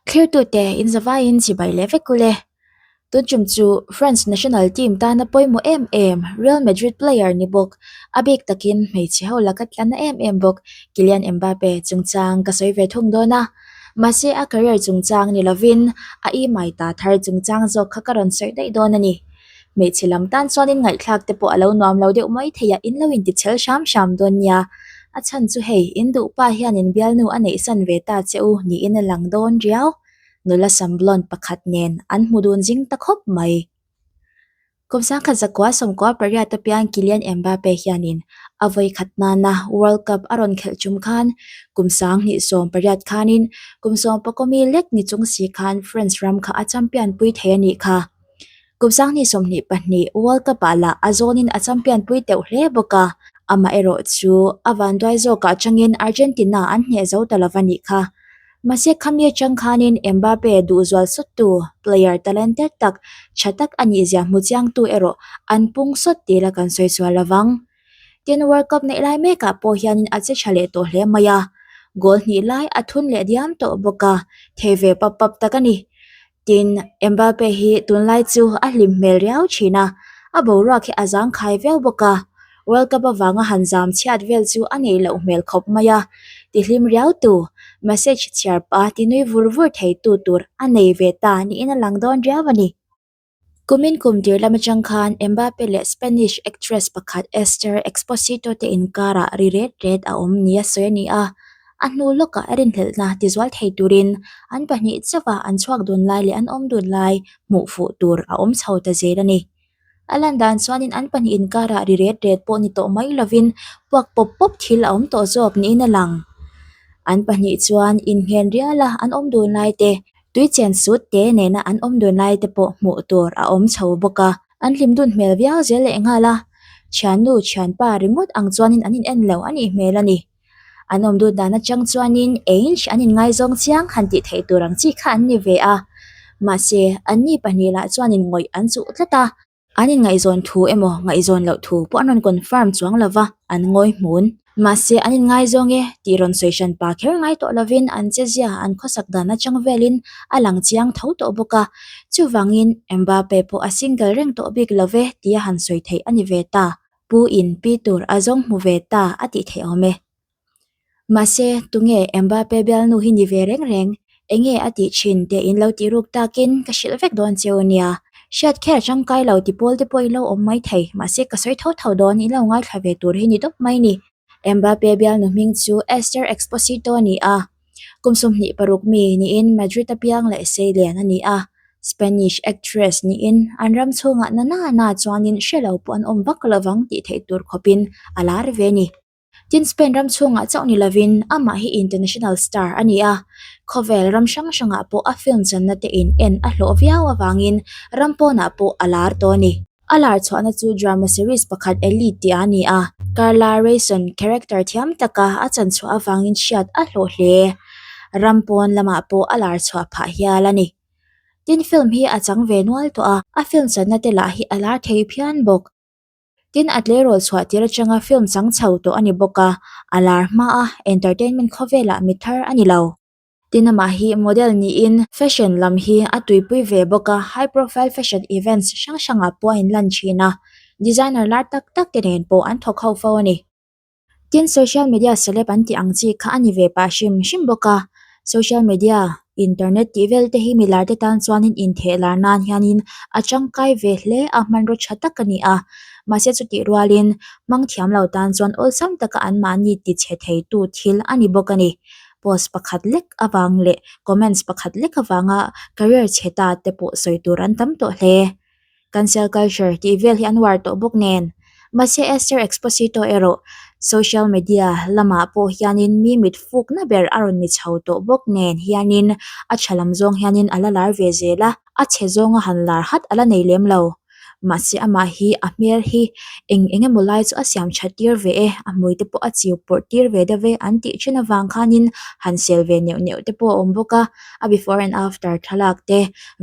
Thirtute in zavaiin chibai leh vek u le. Tunchum chu France national team tana pawimawh em em, Real Madrid player ni bawk. A bik takin hmeichhe ho laka tlan a em em bawk. Kylian Mbappe chungchang ka sawi ve thung dawn a. Mahse a career chungchang ni lovin a imai ta thar chungchang zawk kha ka rawn sawi daih dawn a ni. hmeichhe lam tan chuanin ngaihthlak te pawh a lo nuam lo deuh mai theih a in lo inti chhel hram hram dawn nia a chhan chu hei in duh pa hianin bialnu a neih san ve ta che u niin a lang dawn riau nula sam blonde pakhat nen an hmu dun zing ta khawp mai kum sangkhat zakua sawmkua pariat apiang kilian Mbappe hianin a vawi khat nana world cup a rawn khelh chhum khan kum sang hnih sawm pariat khanin kum sawm pakomi lek ni chung si khan France ram kha a champion pui thei a nih kha. Kupzangni sawmhnih pahnih World Cup ah lah a zawnin a champion pui teuh hle bawk a, amaherawh chu a vanduai zawkah changin Argentina an hneh zo ta lo a nih kha. Mahse khami atang khanin Mbappe duhzual sawttu, player talented tak, tha tak a nih zia hmu chiangtu erawh an pung sawt tih ila kan sawi sual lovang. Tin, World Cup neih lai mekah pawh hianin a che tha leh tawh hle mai a, goal hnih lai a thun leh diam tawh bawk a, thei ve pap pap tak a ni. tin Mbappe hi tunlai chu a hlim hmel riau thin a, a boruak hi a zangkhai viau bawk a, World Cup avanga han zam chhiat vel chu a nei loh hmel khawp mai a, ti hlim riau tu, message chhiar pa ti nui vur vur thei tu tur a nei ve ta niin a lang dawn riau a ni. Kumin kum tir lam atang khan Mbappe leh Spanish actress pakhat Esther Exposito te inkarah ri ret ret a awm ni a sawi a ni a, a hnu lawkah rinhlelh hna tizual thei turin an pahnih chauhah an chhuak dun lai leh an awm dun lai hmuh fuh tur a awm chho ta zel a ni. A lan dan chuanin an pahnih inkarah ri ret ret pawh ni tawh mai lovin puak pawp pawp thil a awm tawh zawk niin a lang. An pahnih chuan innghen riala an awm dun lai te, tui chen sut te nena an awm dawn lai te pawh hmuh tur a awm chho bawk a. An hlim dun hmel viau zel leh nghal a, thiannu thianpa ringawt ang chuanin an inen lo a nih hmel a ni. An awm dun dan atang chuanin eng an inngaizawng chiang han tih theih tur ang chi kha an ni ve a, mahse anni pahnih lah chuanin ngawih an chuh tlat a. An inngaihzawn thu emaw ngaihzawn loh thu pawh an rawn confirm chuang lo va, an ngawihmun. Mahse, an inngaizawng e tih rawn sawi hran pa kher ngai tawh lovin an chezia an khawsak dan atang velin a lang chiang tho tawh bawk a. Chuvangin, Mbappe pawh a single reng tawh bik lo ve tia han sawi theih a ni ve ta, Pu-in pi tur a zawng hmu ve ta a tih theih awm e. Mahse, tunge Mbappe bialnu hi ni ve reng reng? Enge a tih thin? tih in lo tih ruk takin ka hrilh vek dawn che u nia. Hriat kher tangkai lo ti pawl te pawh i lo awm mai thei. Mahse, ka sawi tho tho dawn i lo ngaithla ve tur hi ni dawp mai ni. Mbappe bialnu hming chu Esther Exposito a ni a, kum sawmhnih paruk mi niin Madrid apiang leh Seilian a ni a, Spanish actress niin an ram chhungah nana na chuanin hre lo pawh an awm vak lovang tih theih tur khawpin a lar ve ni. Tin, Spain ram chhungah chauh ni lovin amah hi international star a ni a. Khawvel ram hrang hrangah pawh a film channa tein en a hlawh viau avangin ram pawnah pawh a lar tawh a ni. A lar chhuahna chu drama series pakhat Elite tih ah a ni a. Carla Rayson character thiam taka a chan chhuah avangin hriat a hlawh hle. Ram pawn lamah pawh a lar chhuah phah hial a ni. Tin, film hi a chang ve nual tawh a, a film channa te lah hi a lar thei phian bawk. Tin, a tleirawl chhuah tir atanga film chang chho tawh a ni bawk a, a lar hma a, entertainment khaw velah mi thar a ni lo. Tin, amah hi model niin fashion lam hi a tuipui ve bawk a, high profile fashion events hrang hrangah pawh a inlan thin a, designer lar tak tak te nen pawh an thawk ho fo a ni. Tin, social media celeb an tih ang chi kha a ni ve pah hrim hrim bawk a. Social media, internet, tih vel te hi mi lar te tan chuanin intheh lar nan hianin a tangkai ve hle a, hmanraw tha tak a ni a. Mahse chutih rualin hmang thiam lo tan chuan awlsam taka an mahni ti chhe theitu thil a ni bawk a ni. Post pakhat lek avang leh comments pakhat lek avanga career chhe ta te pawh sawi tur an tam tawh hle. kan selkaiser tih vel hi an uar tawh bawk nen. Mahse Esther Exposito erawh social media lamah pawh hianin mi mitfukna ber a rawn ni chho tawh bawk nen hianin a tha lam zawng hianin a la lar ve zel a, a chhe zawnga han lar hat a la nei lem lo. Mahse amah hi a hmel hi eng eng emaw lai chu a siam tha tir ve e, a hmui te pawh a chiu pawrh tir ve deuh e an tih thin avang khanin han sel ve neuh neuh te pawh a awm bawk a. a before and after thlalak te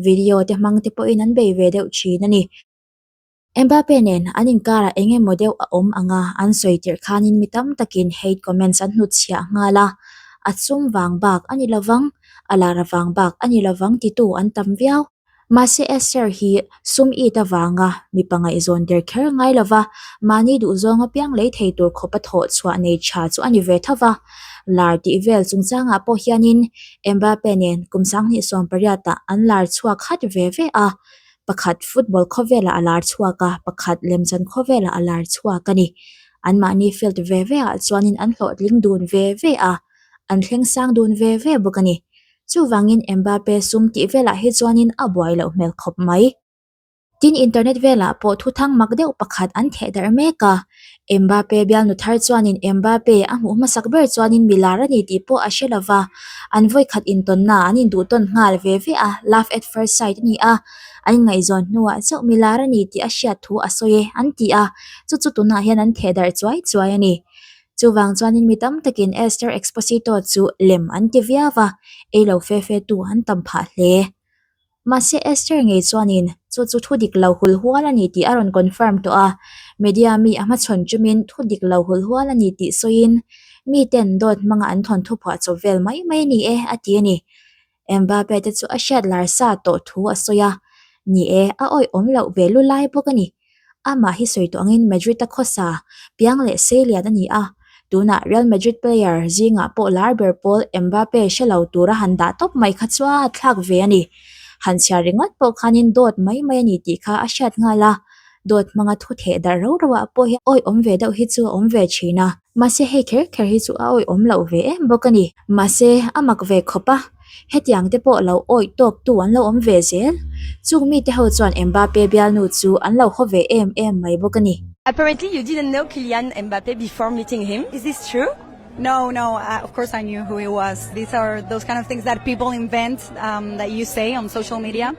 video te hmang te pawhin an bei ve deuh thin a ni mbappe nen an inkar ah eng emaw deuh a awm ang a an sawi tirh khanin mi tam takin hate comments an hnut chhiah nghal a a sum vang bak a ni lovang a lar avang bak a ni lovang titu an tam viau. Mahse Esther hi sum it avanga mi pangaih zawn der kher ngai lo va, mahni duh zawng apiang lei thei tur khawp a thawh chhuah nei tha chu a ni ve tho va. Lar tih vel chungchangah pawh hianin Mbappe nen kum sang hnih sawm pariatah an lar chhuak khat ve ve a, pakhat football khawvelah a lar chhuak a, pakhat lemchan khawvelah a lar chhuak a ni. An mahni field ve veah chuanin an hlawhtling dun ve ve a, an thleng sang dun ve ve bawk a ni. Chuvangin Mbappe sum tih velah hi chuanin a buai loh hmel khawp mai. Tin, internet velah pawh thuthang mak deuh pakhat an thehdarh mek a. Mbappe bialnu thar chuanin Mbappe a hmuh hmasak ber chuanin milar a ni tih pawh a hre lo va, an vawikhat intawnna an induhtawn nghal ve ve a, love at first sight a ni a, an ngaihzawn hnuah chauh milar a ni tih a hriat thu a sawi e, an ti a. Chu chu tunah hian an thehdarh chuai chuai a ni. Chuvang chuanin mi tam takin Esther Exposito chu lem an ti viau a, eilo fe fe tu an tam phah hle. Mahse Esther ngei chuanin chu chu thu dik lo hul hual a ni tih a rawn confirm tawh a, media mi a hmachhawn tumin thu dik lo hul hual a ni tih sawiin, Miten dawt hmanga an thawnthu phuah chawp vel mai mai ni e a ti a ni. Mbappe te chu a hriat larsa tawh thu a sawi a, Ni e, a awihawm loh ve lu lai bawk a ni. Amah hi sawi tawh angin Madrid-a khawsa piang leh sei lian a ni a, tunah Real Madrid player zingah pawh lar ber pawl Mbappe hre lo tur a han dah tawp mai kha chuan a thlak ve a ni. Han chhiar ringawt pawh khanin dawt mai mai a ni tih kha a hriat nghal a, dawt hmanga thu theh darh rau rauah pawh hian awihawm ve deuh hi chu a awm ve thin a. Mahse hei kher kher hi chu a awih awm loh ve em bawk a ni. Mahse a mak ve khawp a, hetiang te pawh lo awih tawktu an lo awm ve zel. Chung mi te ho chuan Mbappe bialnu chu an lo haw ve em em mai bawk a ni. Apparently you didn't know Kylian Mbappe before meeting him, is this true? No, no, of course I knew who he was. These are those kind of things that people invent that you say on social media.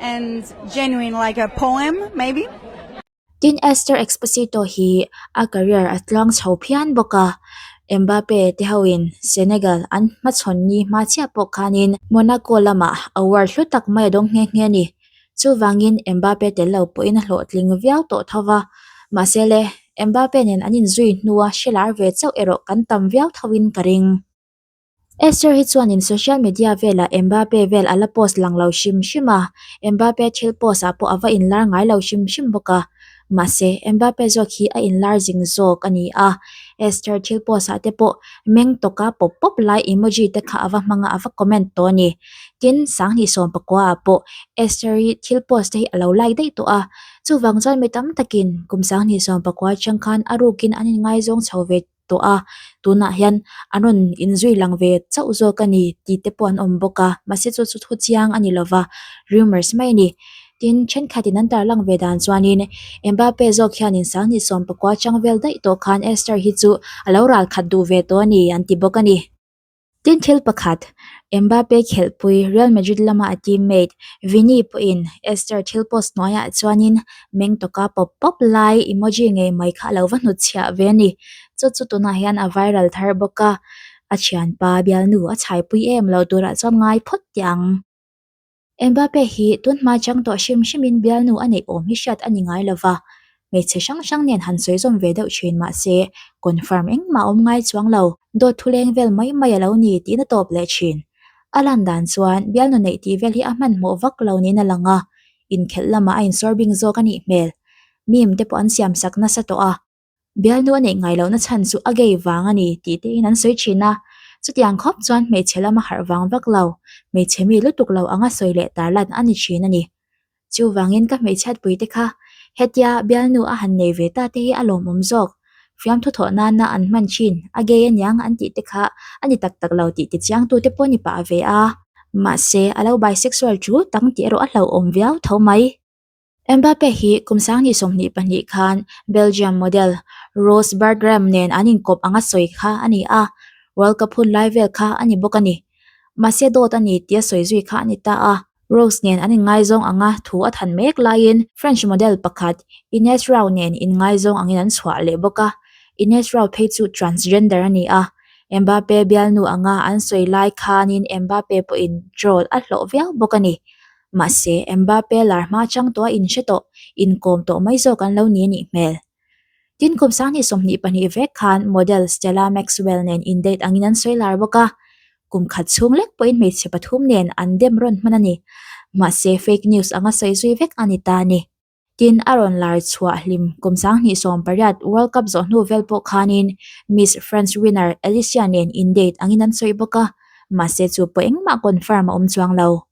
and genuine like a poem maybe. Tin, Esther Exposito hi a career a tluang chho phian bawk a, Mbappe te hoin Senegal an hmachhawn ni hma chiah pawh khanin Monaco lamah a world hlu tak mai a dawng nghe nghe a ni. Chuvangin Mbappe tel lo pawhin a hlawhtling viau tawh tho va, mahse le Mbappe nen an inzui hnua hre lar ve chauh erawh kan tam viau thoin ka ring. Esther hi chuanin social media velah Mbappe vel a la post lang lo hrim hrim a, Mbappe thil post ah pawh a va inlar ngai lo hrim hrim bawk a. Mahse, Mbappe zawk hi a inlar zing zawk a ni a, Esther thil post ah te pawh meng tawk a pawp pawp lai emoji te kha a va hmang a, a va comment tawh a ni. Tin, sang hnih sawm pakua ah pawh Esther hi thil post te hi a lo like daih tawh a. Chuvang chuan mi tam takin kum sang hnih sawm pakua atang khan a rukin an inngaizawng chho ve. tawh a, tunah hian an rawn inzui lang ve chauh zawk a ni tih te pawh an awm bawk a, mahse chu chu thu chiang a ni lo va, rumours mai a ni. Tin, thenkhatin an tarlang ve dan chuanin Mbappe zawk hianin sanghnih sawm pakua chang vel daih tawh khan Esther hi chu a lo ralkhat duh ve tawh a ni an ti bawk a ni. Tin thil pakhat, Mbappe khelhpui Real Madrid lama a team mate Vini pawhin Esther thil post hnuaiah chuanin meng tawka pawp pawp lai emoji ngei mai kha a lo va hnut chhiah ve a ni. Chu chu tunah hian a viral thar bawk a, a thianpa bialnu a chhaipui em lo turah chuan ngai phawt teh ang. Mbappe hi tunhma chang tawh hrim hrimin bialnu a neih awm hi hriat a ni ngai lo va, hmeichhe hrang hrang nen han sawizawm ve deuh thin mahse, confirm engmah a awm ngai chuang lo. Dawt thuleng vel mai mai a lo ni tihna tawp leh thin. A lan dan chuan bialnu neih tih vel hi a hmanhmawh vak lo niin a lang a, inkhelh lamah a insawrbing zawk a nih hmel. Meme te pawh an siamsak nasa tawh a. Bialnu a neih ngai lohna chhan chu a gay vang a ni tih te in an sawi thin a, chutiang khawp chuan hmeichhe lam a harh vang vak lo, hmeichhe mi lutuk lo anga sawi leh tar lan a ni thin a ni. Chu vangin ka hmeichhiatpui te kha hetia bialnu a han nei ve ta te hi a lawmawm zawk, fiam thu thawh nana an hman thin, a gay a niang an tih te kha a ni tak tak lo tih tichiang tu te pawh ni pah ve a, mahse a lo bisexual thu tang tih erawh a hlauhawm viau tho mai. Mbappe hi kum sangni sawmhnih pahnih khan Belgium model Ross Bergkamp nen an inkawp anga sawi kha a ni a, World Cup hun lai vel kha a ni bawk a ni. Mahse dawt a ni tia sawi zui kha a ni ta a, Ross nen an inngaizawng anga thu a than mek laiin French model pakhat Ines Rau nen inngaizawng angin an chhuah leh bawk a, Ines Rau phei chu transgender a ni a. Mbappe bialnu anga an sawi lai khanin Mbappe pawhin troll a hlawh viau bawk a ni. Mahse, Mbappe lar hma chang tawh a inhre tawh, inkawm tawh mai zawk an lo ni a nih hmel. Tin, kum sanghnih sawmhnih pahnih vek khan model Stella Maxwell nen in date angin an sawi lar bawk a, kum khat chhung lek pawhin hmeichhe pathum nen an dem rawn hman a ni. Mahse, fake news anga sawi zui vek a ni ta a ni. Tin, a rawn lar chhuah hlim kum sanghnih sawm pariat World Cup zawh hnu vel pawh khanin Miss France winner Alicia nen in date angin an sawi bawk a, mahse, chu pawh engmah confirm a awm chuang lo.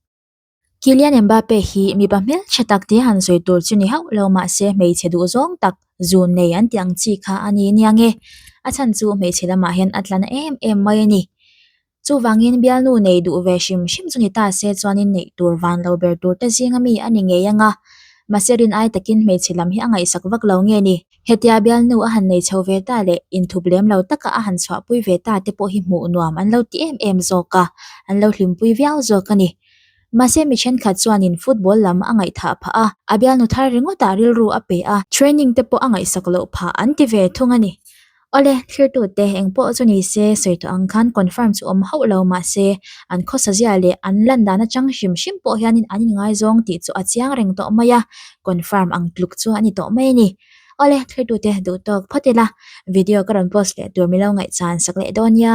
Kylian Mbappe hi mipa hmelchhe tak tih han sawi tur chu ni hauh lo mahse hmeichhe duhzawng tak zun nei an tih ang chi kha a ni nia nge. A chhan chu hmeichhe lamah hian a tlan em em mai a ni. Chuvangin bialnu nei duh ve hrim hrim chu ni ta se chuanin neih tur van lo ber tur te zinga mi a ni ngei ang a. Mahse rin ai takin hmeichhe lam hi a ngaihsak vak lo nge ni. Hetia bialnu a han nei chho ve ta leh inthup lem lo taka a han chhuahpui ve ta te pawh hi hmuh nuam an lo ti em em zawk a, an lo hlimpui viau zawk a ni. Mahse, mi thenkhat chuanin football lam a ngaihthah phah a, a bialnu thar ringawtah rilru a pe a, training te pawh a ngaihsak loh phah an ti ve thung a ni. Awle, thirtute, eng pawh chu ni se, sawi tawh ang khan confirm chu awm hauh lo mahse, an khawsazia leh an lan dan atang hrim hrim pawh hianin an inngaizawng tih chu a chiang reng tawh mai a, confirm ang tluk chuang a ni tawh mai a ni awle thlir tu te duh tawk phawt ila video ka rawn post leh tur milo ngaihchhan sak leh dawn nia.